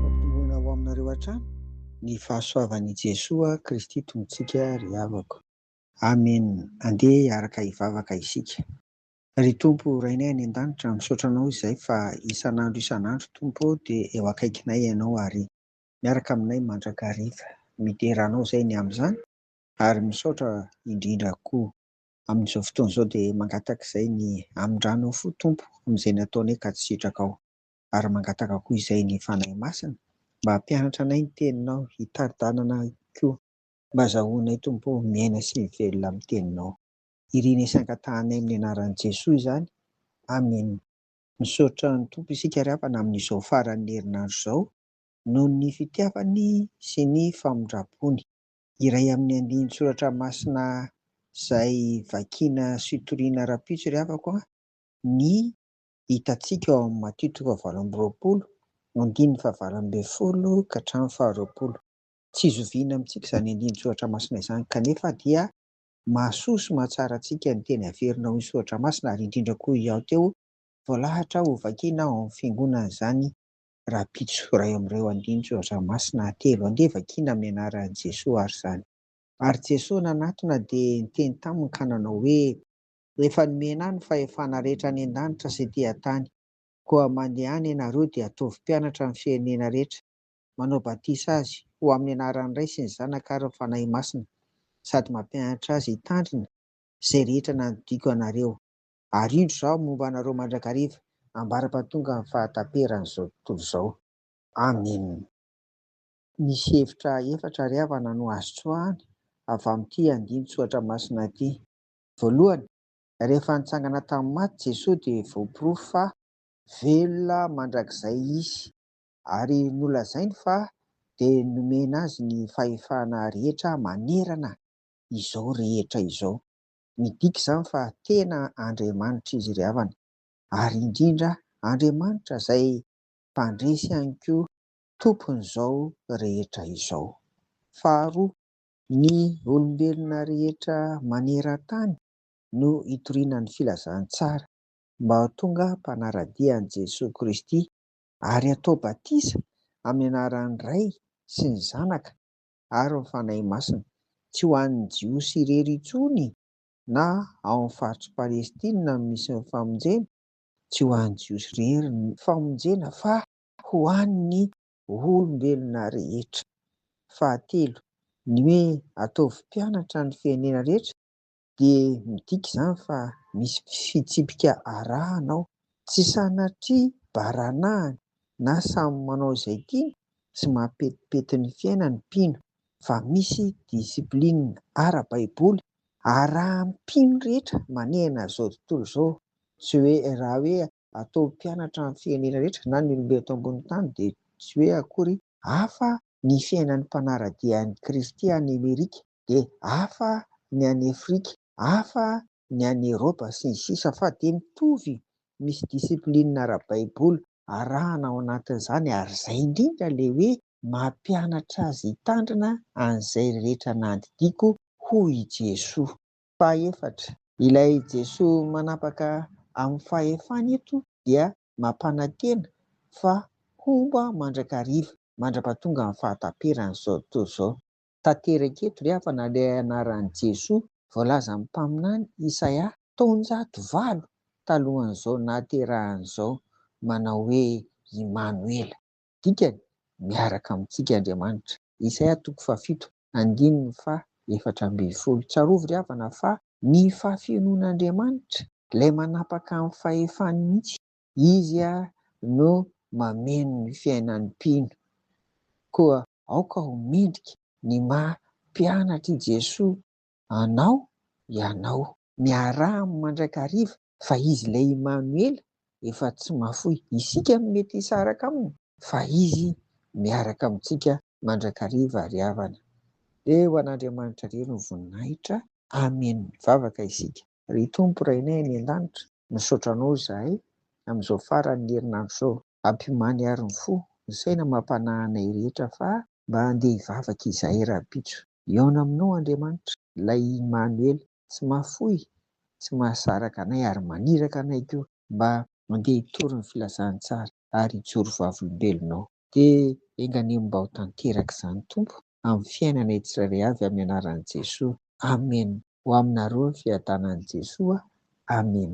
Ampitomboina ho aminareo hatrany ny fahasoavan' i Jesoa Kristy Tompontsika ry havako. Amen! Andeha hiaraka hivavaka isika. Ry Tompo Rainay any an-danitra, misaotra Anao izay fa isan'andro isan'andro Tompo ô dia eo akaikinay Ianao ary miaraka aminay mandrakariva. Midera Anao izay ny amin'izany ary misaotra indrindra koa. Amin'izao fotoana izao dia mangataka izay ny hamindrana fo Tompo amin'izay nataonay ka tsy sitrakao. Ary mangataka koa izay ny Fanahy Masina mba hampianatra anay ny Teninao hitari-dalana koa. Mba azahoanay Tompo o miaina sy mivelona amin'ny Teninao. Irina sy angatahanay amin'ny anaran'i Jesoa izany. Amen. Misaotra ny Tompo isika ry havana amin'izao faran'ny herinandro izao noho ny fitiavany sy ny famindrampony. Iray amin'ny andinin-tsoratra masina izay vakiana sy toriana ara-pitsy ry havako ny hitantsika ao amin'ny Matio toko fahavalo amby roapolo, andininy fahavalo ambin'ny folo ka hatramin'ny faharoapolo. Tsy zoviana amintsika izany andinin-tsoratra masina izany, kanefa dia mahasoa sy mahatsara antsika ny teny averina ao amin'ny soratra masina, ary indrindra koa i Ao teo voalahatra hovakiana ao amin'ny fiangonana izany rahampitso iray amin'ireo andiany Soratra Masina atelo Andeha vakina amin'ny anaran'i Jesoa ary izany. Ary Jesoa nanatona dia niteny taminy ka nanao hoe, Efa nomena ahy ny fahefana rehetra any an-danitra sy ety an-tany. Koa mandehana ianareo dia ataovy mpianatra amin'ny firenena rehetra, manao batisa azy ho amin'ny anaran'ny Ray sy ny Zanaka ary ny Fanahy Masina, sady mampianatra azy hitandrina izay rehetra nandidiako anareo. ary indro izaho momba anareo mandrakariva ambara-pahatongan'ny fahataperan'izao tontolo izao. Amena. Misy hevitra efatra ry havana no azo tsoahina avy amin'ity andinin-tsoratra masina ity. Voalohany, rehefa nitsangana tamin'ny maty Jesoa dia voaporofo fa velona mandrakizay Izy, ary nolazainy fa dia nomena Azy ny fahefana rehetra manerana izao rehetra izao. Midika izany fa tena Andriamanitra izy ry havana, ary indrindra Andriamanitra izay Mpandresy ihany koa Tompon'izao rehetra izao. Faharoa. Ny olombelona rehetra maneran-tany no hitoriana ny filazantsara mba ho tonga mpanara-dia an'i Jesoa Kristy ary hatao batisa amin'ny anaran'ny Ray sy ny Zanaka ary ny Fanahy Masina, tsy ho an'ny Jiosy irery intsony na ao amin'ny faritr'i Palestina no misy ny famonjena, tsy ho an'ny Jiosy irery ny famonjena fa ho an'ny olombelona rehetra. Fahatelo, ny hoe ataovy mpianatra ny firenena rehetra dia midika izany fa misy fitsipika arahana ao, tsy sanatria baranahiny na samy manao izay tiany sy mahapetipety ny fiainany ny mpino fa misy discipline ara-baiboly arahan'ny mpino rehetra manehana izao tontolo izao, tsy hoe raha hoe ataovy mpianatra ny firenena rehetra na ny olombelona eto ambonin'ny tany dia tsy hoe akory hafa ny fiainan'ny mpanara-dia an'i Kristy any Amerika. dia hafa ny any Afrika, hafa ny any Eropa sy ny sisa fa dia mitovy misy discipline ara-baiboly arahana ao anatin'izany ary izay indrindra ilay hoe mampianatra azy hitandrina an'izay rehetra nandidiako hoy i Jesoa. Fahefatra, ilay Jesoa manapaka amin'ny fahefany eto dia mampanantena fa homba mandrakariva, mandrapatongan'ny fahataperan'izao tontolo izao. tanteraka eto ry havana ilay anaran'i Jesoa voalazan'ny mpaminany Isaia taonjato valo talohan'izao nahaterahany izao manao hoe Imanoela. Dikany, miaraka amintsika Andriamanitra. Isaia toko fahafito, andininy faha efatra ambin'ny folo. Tsarovy ry havana fa ny fahafenoan'Andriamanitra, ilay manapaka amin'ny fahefany mihitsy, Izy no mameno ny fiainan'ny mpino. Koa aoka ho mendrika ny maha mpianatr'i Jesoa anao ianao. Miaraha amin'ny mandrakariva fa Izy ilay Imanoela efa tsy mahafoy isika no mety hisaraka Aminy fa Izy miaraka amintsika mandrakariva ry havana. Dia ho an'Andriamanitra irery ny voninahitra. Amen. Mivavaka isika. Ry Tompo Rainay any an-danitra, misaotra Anao izahay amin'izao faran'ny herinandro izao. Ampimany àry ny fo, ny saina amam-panahy anay rehetra fa mba handeha hivavaka izahay rahampitso. Hihaona aminao Andriamanitra, ilay Imanoela, tsy mahafoy, tsy mahasaraka anay ary maniraka anay koa mba handeha hitory ny filazantsara ary hijoro vavolombelonao. Dia enga anie mba ho tanteraka izany Tompo amin'ny fiainanay tsirairay avy amin'ny anaran'i Jesoa. Amen. Ho aminareo ny fiadanan'i Jesoa. Amen.